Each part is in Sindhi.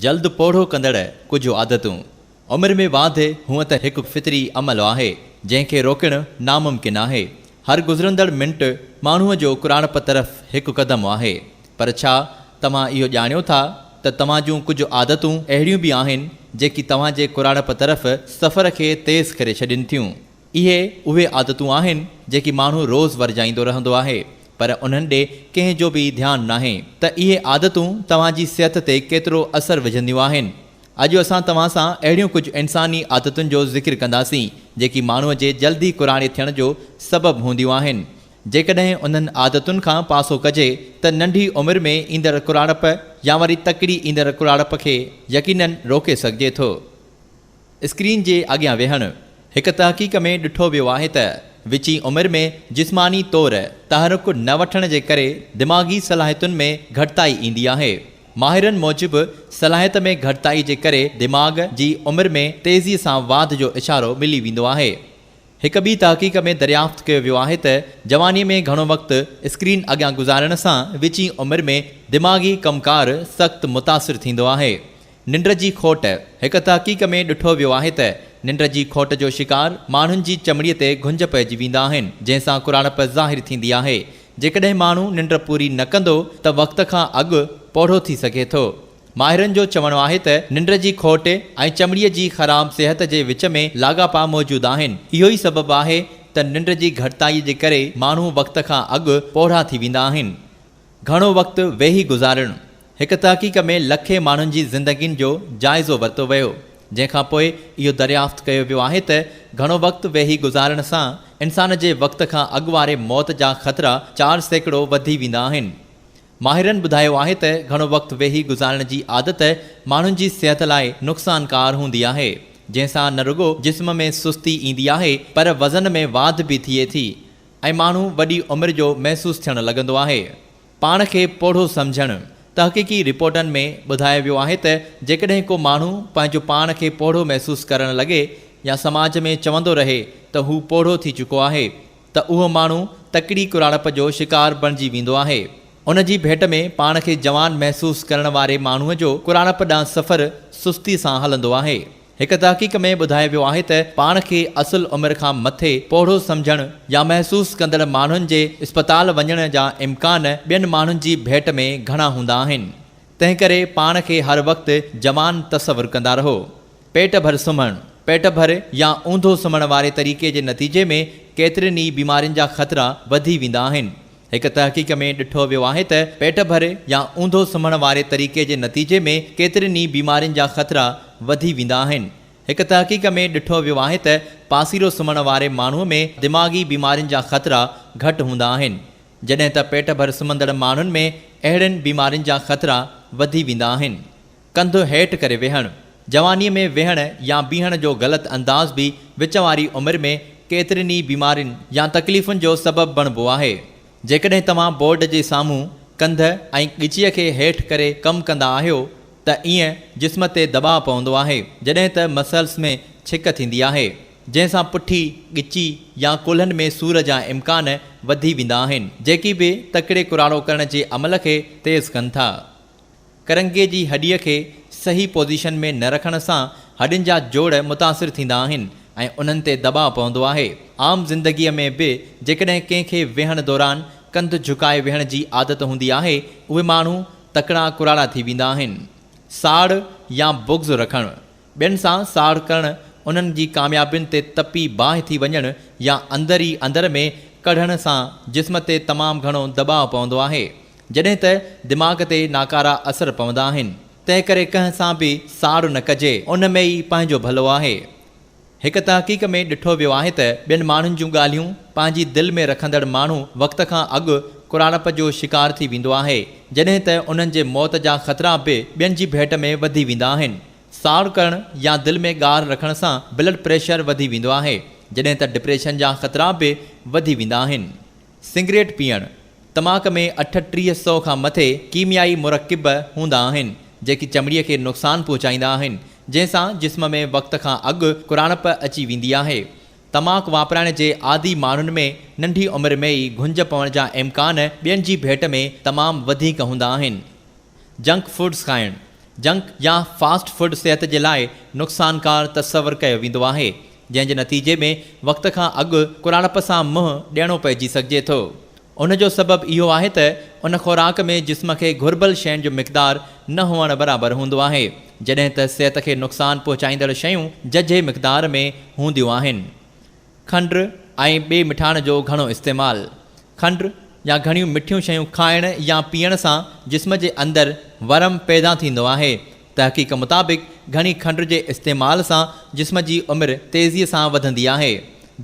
جلد پوڙهو ڪندڙ ڪجهه عادتون، عمر ۾ واڌ هونئن ته هڪ فطري عمل آهي، جنهن کي روڪڻ ناممڪن آهي. هر گذرندڙ منٽ ماڻهوء جو ڪراڻپ طرف هڪ قدم آهي. پر ڇا توهان اهو ڄاڻيو ٿا ته توهان جون ڪجهه عادتون اهڙيون به آهن، جيڪي توهان جي ڪراڻپ طرف سفر کي تيز ڪري ڇڏين ٿيون؟ اهي اهي عادتون آهن جيڪي ماڻهو روز ورجائيندو رهندو آهي پر انهن ڏي ڪنهن جو به ڌيان ناهي ته اهي عادتون توهان جي صحت تي ڪيترو اثر وجهنديون آهن اڄ اسان توهان سان اهڙيون ڪجهه انساني عادتن جو ذڪر ڪنداسين جيڪي ماڻهو جي جلدي ڪراڙي ٿيڻ جو سبب هونديون آهن جيڪڏهن انهن عادتن کان پاسو ڪجي ته ننڍي عمر ۾ ايندڙ ڪراڙپ يا وري تڪڙي ايندڙ ڪراڙپ کي يقينن روڪي سگهجي ٿو. اسڪرين جي اڳيان ويهڻ، هڪ تحقيق ۾ ڏٺو ويو آهي ته وچين عمر ۾ جسماني طور تحرڪ نه وٺڻ جي ڪري دماغي صلاحيتن ۾ گهٽتائي ايندي آهي. ماهرن موجب صلاحيت ۾ گهٽتائي جي ڪري دماغ جي عمر ۾ تيزي سان واڌ جو اشارو ملي ويندو آهي. هڪ ٻي تحقيق ۾ دريافت ڪيو ويو آهي ته جواني ۾ گهڻو وقت اسڪرين اڳيان گذارڻ سان وچين عمر ۾ دماغي ڪم ڪار سخت متاثر ٿيندو آهي. ننڊ جي کوٽ، هڪ تحقيق ۾ ڏٺو ويو آهي ته ننڊ جي کوٽ جو شڪار ماڻهن جي چمڙي تي گهنج پئجي ويندا آهن جنهن سان ڪراڙپ ظاهر ٿيندي آهي. جيڪڏهن ماڻهو ننڊ پوري نه ڪندو ته وقت کان اڳ پوڙهو ٿي سگهي ٿو. ماهرن جو چوڻ آهي ته ننڊ جي کوٽ ۽ چمڙي جي خراب صحت جي وچ ۾ لاڳاپا موجود آهن اهو ئي سبب آهي ته ننڊ جي گهٽتائي جي ڪري ماڻهو وقت کان اڳ پوڙها ٿي ويندا آهن. گهڻو وقت ويهي گذارڻ، هڪ تحقيق ۾ لکين ماڻهن جي زندگين جو جائزو ورتو ويو، جنهن کان پوء اهو دريافت ڪيو ويو آهي ته گهڻو وقت ويهي گذارڻ سان انسان جي وقت کان اڳ واري موت جا خطرا چار سيڪڙو وڌي ويندا آهن. ماهرن ٻڌايو آهي ته گهڻو وقت ويهي گذارڻ جي عادت ماڻهن جي صحت لاء نقصانڪار هوندي آهي، جنهن سان نه رڳو جسم ۾ سستي ايندي آهي پر وزن ۾ واڌ به ٿئي ٿي. ۽ ماڻهو وڏي عمر جو محسوس ٿيڻ لڳندو آهي. پاڻ کي پوڙهو سمجهڻ، تحقيقي رپورٽن ۾ ٻڌايو ويو آهي ته جيڪڏهن ڪو ماڻهو پنهنجو پاڻ کي پوڙهو محسوس ڪرڻ لڳي يا سماج ۾ چوندو رهي ته هو پوڙهو ٿي چڪو آهي ته اهو ماڻهو تڪڙي ڪراڙپ جو شڪار بڻجي ويندو آهي. ان جي ڀيٽ ۾ پاڻ کي جوان محسوس ڪرڻ واري ماڻهوء جو ڪراڙپ ڏانهن سفر سستي سان هلندو آهي. هڪ تحقيق ۾ ٻڌايو ويو آهي ته پاڻ کي اصل عمر کان مٿي پوڙهو سمجهڻ يا محسوس ڪندڙ ماڻهن جي اسپتال وڃڻ جا امڪان ٻين ماڻهن جي ڀيٽ ۾ گهڻا هوندا آهن. تنهنڪري پاڻ کي هر وقت جوان تصور ڪندا رهو. پيٽ ڀر سمهڻ، پيٽ ڀر يا اونڌو سمهڻ واري طريقي جي نتيجي ۾ ڪيترين ئي بيمارين جا خطرا وڌي ويندا آهن. هڪ تحقيق ۾ ڏٺو ويو آهي ته پيٽ ڀري يا اونڌو سمهڻ واري طريقي جي نتيجي ۾ ڪيترين ئي بيمارين جا خطرا وڌي ويندا آهن. هڪ تحقيق ۾ ڏٺو ويو آهي ته پاسيرو سمهڻ واري ماڻهو ۾ دماغي بيمارين جا خطرا گهٽ هوندا آهن، جڏهن ته پيٽ ڀر سمهندڙ ماڻهن ۾ اهڙين بيمارين جا خطرا وڌي ويندا آهن. ڪنڌ هيٺ ڪري ويهڻ، جوانيء ۾ ويهڻ يا بيهڻ جو غلط انداز به وچ واري عمر ۾ ڪيترين ئي بيمارين يا تڪليفن جو سبب بڻبو آهي. جيڪڏهن توهان بورڊ جي سامهون ڪنڌ ۽ ڳچيء کي هيٺ ڪري ڪم ڪندا آهيو ته ايئن جسم تي دٻاء پوندو آهي جڏهن ته مسلس ۾ ڇڪ ٿيندي آهي جنهن سان پٺي، ڳچي يا ڪلهن ۾ سور جا امڪان وڌي ويندا آهن جيڪي به تڪڙي ڪراڙو ڪرڻ جي عمل کي تيز ڪن ٿا. ڪرنگهي جي هڏيء کي صحيح پوزيشن ۾ نه رکڻ سان هڏين جا جوڙ متاثر ٿيندا آهن ۽ انهن تي دٻاء پوندو آهي. عام زندگيء ۾ به جيڪڏهن ڪنهن کي ويهڻ دوران ڪنڌ جهڪائي ويهڻ جي عادت هوندي آهي، اهي ماڻهو تڪڙا ڪراڙا ٿي ويندا آهن. ساڙ يا بغض رکڻ، ٻين سان ساڙ ڪرڻ، انهن جي ڪاميابين تي تپي باهه ٿي وڃڻ يا اندر ئي اندر ۾ ڪڙهڻ سان جسم تي تمام گهڻو دٻاء پوندو آهي، جڏهن ته دماغ تي ناڪارا اثر پوندا آهن. تنهن ڪري ڪنهن سان به ساڙ نه ڪجي، ان ۾ ئي پنهنجو ڀلو آهي. هڪ تحقيق ۾ ڏٺو ويو آهي ته ٻين ماڻهن جون ڳالهيون پنهنجي دل ۾ رکندڙ ماڻهو وقت کان اڳ ڪراڙپ جو شڪار ٿي ويندو آهي، جڏهن ته انهن جي موت جا خطرا به ٻين جي ڀيٽ ۾ وڌي ويندا آهن. ساڙ ڪرڻ يا دل ۾ ڳاهر رکڻ سان بلڊ پريشر وڌي ويندو آهي، جڏهن ته ڊپريشن جا خطرا به وڌي ويندا آهن. سگريٽ پيئڻ، تماڪ ۾ اٺٽيهه سئو کان مٿي ڪيميائي مرڪب هوندا آهن، جيڪي چمڙي کي نقصان پهچائيندا آهن، جنهن سان جسم ۾ وقت کان اڳ ڪراڻپ اچي ويندي آهي. تماڪ واپرائڻ جي عادي ماڻهن ۾ ننڍي عمر ۾ ئي گهنج پوڻ جا امڪان ٻين جي ڀيٽ ۾ تمام وڌيڪ هوندا آهن. جنڪ فوڊز کائڻ، جنڪ يا فاسٽ فوڊ صحت جي لاء نقصانڪار تصور ڪيو ويندو آهي، جنهن جي نتيجي ۾ وقت کان اڳ ڪراڙپ سان منهن ڏيڻو پئجي سگهجي ٿو. ان جو سبب اهو آهي ته ان خوراڪ ۾ جسم کي گهربل شين جو مقدار نه هئڻ برابر هوندو آهي، جڏهن ته صحت کي نقصان پهچائيندڙ شيون ججهي مقدار ۾ هونديون آهن. کنڊ ۽ ٻي مٺاڻ جو گهڻو استعمال، کنڊ يا گهڻيون مٺيون شيون کائڻ يا پيئڻ سان جسم جي اندر ورم پيدا ٿيندو آهي، تحقيق مطابق گهڻي کنڊ جي استعمال سان جسم جي عمر تيزي سان وڌندي آهي،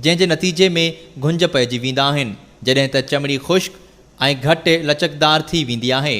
جنهن جي نتيجي ۾ گهنج پئجي ويندا آهن، جڏهن ته چمڙي خشڪ ۽ گهٽ لچڪدار ٿي ويندي آهي.